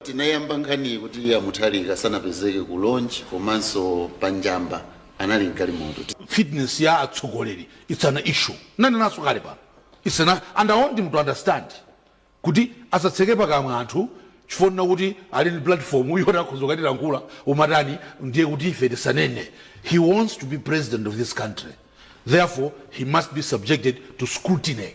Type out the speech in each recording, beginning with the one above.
tinayamba nkhaniyi kuti a Mutharika sanapezeke ku launch komanso pa njamba anali mgalimoto fitness ya atsogoleri it's an issue ndinanenanso kale pano it's an, and i want him to understand kuti asatseke pakamwa anthu chifukwa chonena kuti ali ndi platform yoti akhoza kukatilankhula umatani ndiye kuti ife tisanene he wants to be president of this country therefore he must be subjected to scrutiny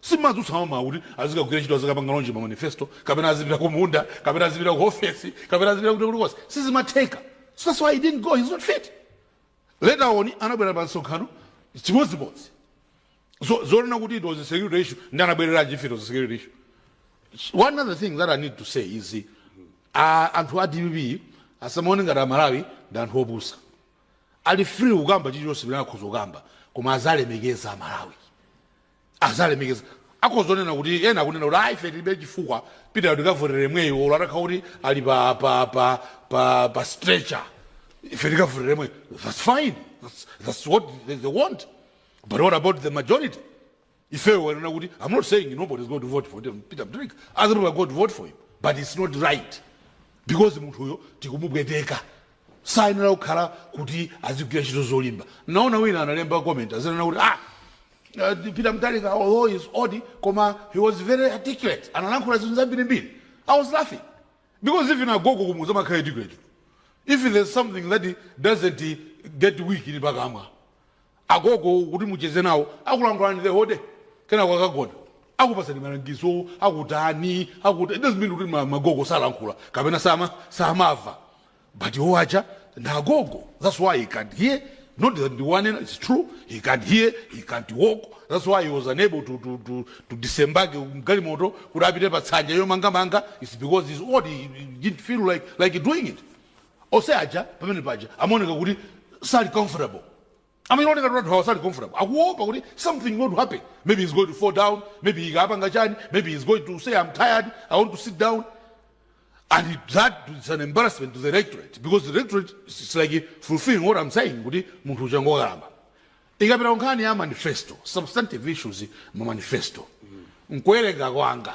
Sumadzutsa mmamawa kuti azikagwira ntchito azikapanga launch ma manifesto kapena azipita kumunda kapena azipita ku ofesi kapena azipita kuti kulikonse sizimatheka so that's why he didn't go he's not fit later on anabwera pa msonkhano chimodzimodzi so zonena kuti it was a security issue nde anabwereranji if it was a security issue one other thing that i need to say is uh, anthu a dpp asamaone ngati amalawi ndi anthu opusa ali free kukamba chilichonse pamene akhoza kukamba koma azilemekeza amalawi azilemekeza akhoza kunena kuti ena akunena kuti ayi ife tilibe chifukwa Peter tikavotera yemweyo olo atakhala kuti ali pa, pa, pa, pa, pa stretcher ife tikavotera yemweyo that's fine that's, that's what they, they want but what about the majority ifeyo onena kuti i'm not saying nobody is going to vote for them, Peter Mutharika other people are going to vote for him but it's not right because munthuyo tikumubweteka sayenera kukhala kuti azigwira ntchito zolimba naona wina analemba comment akunena kuti ah Peter Mutharika although he is old koma he was very articulate analankhula zinthu zambirimbiri i was laughing because even agogo kumudzi amakhala educated if there is something that doesn't get weak ndi pakamwa agogo kuti mucheze nawo akulankhulani the whole day kenako akagona akupatsani malangizo akutani akuta it doesn't mean kuti ma- magogo salankhula kapena sama samava but iwo aja nagogo that's why he can't hear not that ndiwanena it's true he can't hear he can't walk that's why he was unable to, to, to, to disembage mgalimoto kuti apite pa tsanja yomangamanga it's because he's old he, he didn't feel like, like doing it ose aja pamene paja amaoneka kuti sali comfortable Amaoneka ngati kuti anthu awa sali comfortable, akuopa kuti something is going to happen, maybe he's going to fall down, maybe apanga chani, maybe he's going to say I'm tired, I want to sit down, and it- that is an embarrassment to the electorate because the electorate is is like fulfilling what I'm saying kuti munthu uja ngokalamba. Tikapita kunkhani ya manifesto, substantive issues mu manifesto, mkuwerenga kwanga,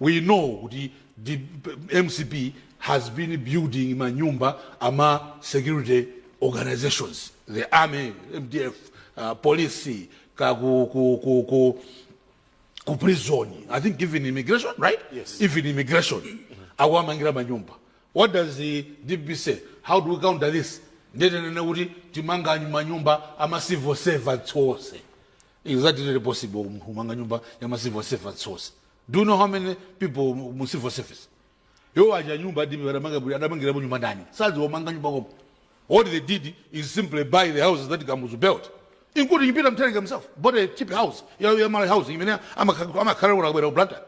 we know kuti mcp has been building manyumba ama security organizations the army mdf uh, police ka ku, ku, ku, ku, ku prison i think even immigration right yes. even immigration akuwamangira manyumba what does the dpp say how do we counter this ndetenene kuti timanga manyumba ama civil servants onse Exactly not possible kumanga nyumba ya ma civil servants source. Do you know how many people mu- mu civil service? Yo waja nyumba adi adamanga buli adamangira mu nyumba ndani. Sazi wamanga nyumba komo. All they did is simply buy the houses that Kamuzu built. Including Peter Mtharika himself, bought a cheap house. Ya ya mara house imene amakhala amakhala kuna kubera ublanta.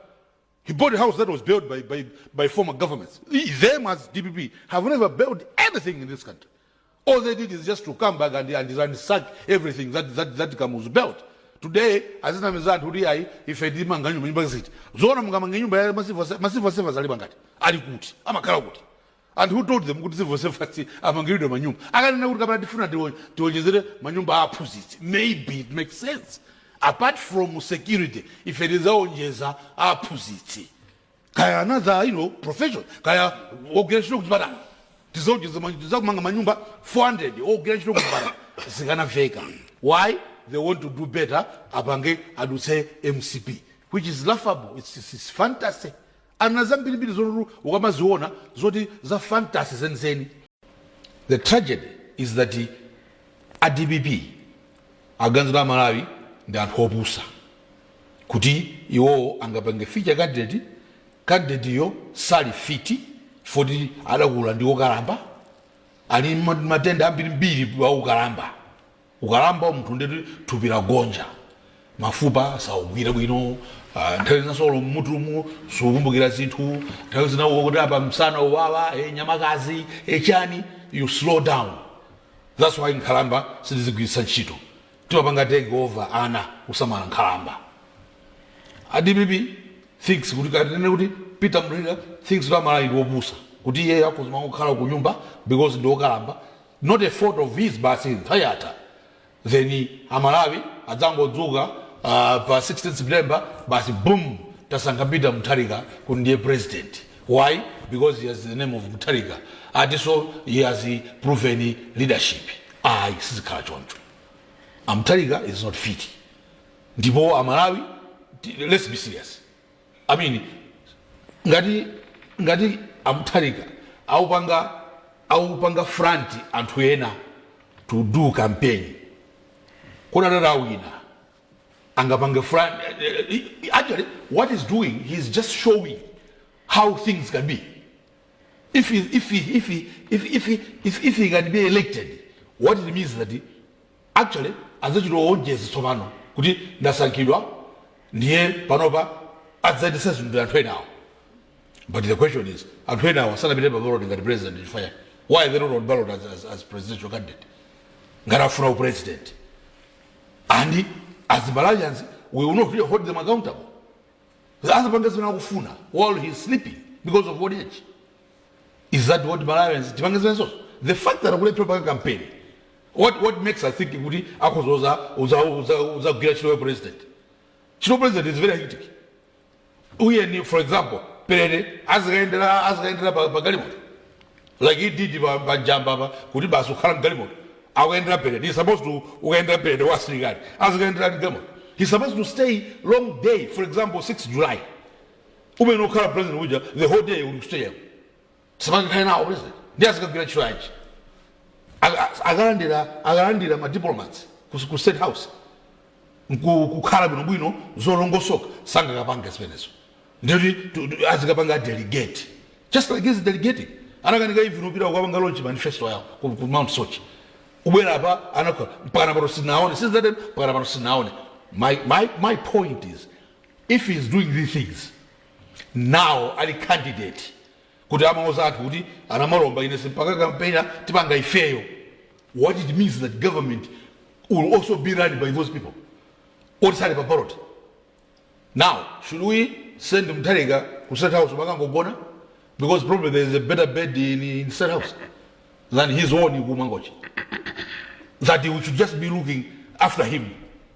He bought a house that was built by, by, by former governments. Them as DPP have never built anything in this country. All they did is just to come back and, and ransack everything that, that, that Kamuzu built. Today, azinamiza anthu kuti ayi ife timanga nyumba nyumba ziti. Zoona mungamange nyumba ya ma civil servants alipo angati. Ali kuti? Amakhala kuti? And who told them kuti civil servants amangiridwe manyumba? Akanena kuti kapena tifuna tiwo- tiwonjezere manyumba a aphunzitsi, maybe it makes sense. Apart from security, ife tidzawonjeza a aphunzitsi. Kaya another, you know, profession. Kaya ogwira ntchito kuchipatala. Tizawonjeza ma- tizamanga manyumba 400 ogwira ntchito kuchipatala. Zikanaveka. Why? They want to do better apange adutse MCP. Which is laughable. It's, it's, it's fantasy. Ali na zambirimbiri zoti ukamaziona zoti za fantasy zenizeni. The tragedy is that a dpp aganiza kuti a Malawi ndi anthu opusa kuti iwowo angapange feature candidate, candidateyo sali fit chifukwa kuti adakula ndi okalamba, ali ndi matenda ambirimbiri a ukalamba. Ukalamba munthu ndiye kuti thupi lagonja, mafupa saugwira bwino, ah, nthawi zina solo m'mutumu sukumbukira zinthu, nthawi zina ukuti apa msana uwawa, eh, nyamakazi, eh, chani, you slow down. That's why nkhalamba sitizigwiritsa ntchito. Timapanga take over ana kusamala nkhalamba. ADPP thinks kuti kapena kuti Peter Mutharika thinks kuti aMalawi ndi opusa kuti iye akuzima kukhala ku nyumba because ndi okalamba not a fault of his basi nthawi yatha then amalawi adzangodzuka uh, pa 16 september basi boom tasankha peter mutharika kuti ndiye president why because he has the name of mutharika atinso he has proven leadership ayi sizikhala choncho amutharika is not fit ndipo amalawi ti- let's be serious I mean, ngati ngati amutharika aupanga aupanga front anthu ena to do campaign kodi atati awina angapange front eh, eh, eh, actually what he's doing he's just showing how things can be if he, if he, if he, if, if, he, if, if he can be elected what it means that he, Actually adzachita oonjezi tsopano kuti ndasankhidwa ndiye panopa adzayendesa zinthu ndi anthu enawa but the question is anthu enawa sanapite pa ballot ngati president chifukwa chani? why they not on ballot as, as, as presidential candidate ngati afuna upresident and as Malawians we will not really hold them accountable azapanga zimene akufuna while he is sleeping because of old age is that what malawians tipange zimenezo the fact that akulephera paka campaign what, what makes us think kuti akhoza uzagwira ntchito ya president ntchito ya president is very hectic tiyeni for example perete azikayendera azikayendera pa pa galimoto like he did pa pa Njamba pa kuti basi ukhala mgalimoto akuyendera perete he supposed to kukayendera perete wa asilikali azikayendera mgalimoto he supposed to stay long day for example 6 july umene ukhala president uja the whole day uli kustadium samangakhale nawo president ndi azikagwira ntchito yanji Aka- akalandira akalandira ma diplomats ku- ku state house nku- kukhala bwinobwino zolongosoka sangakapange zimenezo ndikuti tu- tu- azikapanga delegate just like he's delegating anakanika even upita kukapanga launch manifesto yawo ku, ku Mount Soche ubwera apa anakhala mpakana pano sinaone since that time mpakana pano sinaone my, my, my point is If he is doing these things now ali candidate kuti amauza anthu kuti anamalomba ine simpanga kampena tipanga ifeyo what it means that government will also be run by those people oti sali pa ballot now should we send mtharika ku state house makangogona because probably there is a better bed in, in state house than his own kumangochi that we should just be looking after him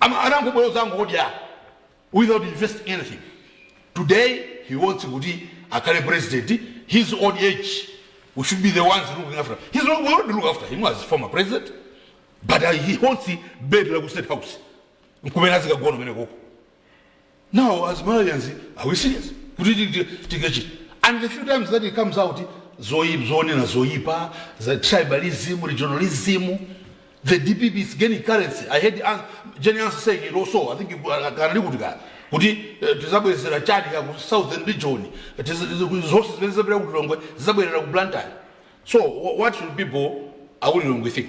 Am anangobwera kudzangodya without investing anything today he wants kuti akhale president his old age we should be the ones looking after his we already look after him as former president but uh, he haunts bed la ku state house nkumene azikagona kumene koko Now as Malawians are we serious kuti tingachite and the few times that he comes out zoyip zonena zoyipa za tribalism regionalism the dpp is gaining currency i heard An- Jane Ansah saying it also i think you- uh, kanali kuti kaya kuti eh, tizabwezera chani ka ku southern region Tiza- tiza- zonse zimene zizabwera ku Lilongwe zizabwerera ku Blantyre so wha- what should people a ku Lilongwe think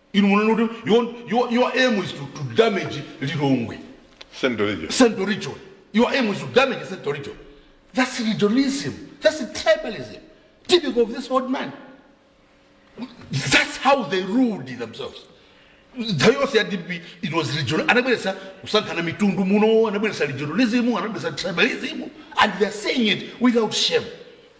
inu munene kuti your, your, your aim is to, to damage lilongwe Central region. central region your aim is to damage central region that's regionalism that's tribalism typical of this old man that's how they ruled themselves nthawi yonse ya dpp it was regional anabweretsa kusankhana mitundu muno anabweretsa regionalism anabweretsa tribalism and theyare saying it without shame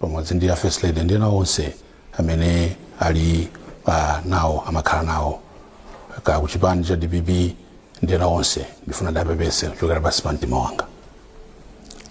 pamodzi ndi a First Lady ndi ena onse amene ali nawo amakhala nawo ka ku chipani cha DPP ndi ena onse ndifuna ndapepese kuchokera pansi pa mtima wanga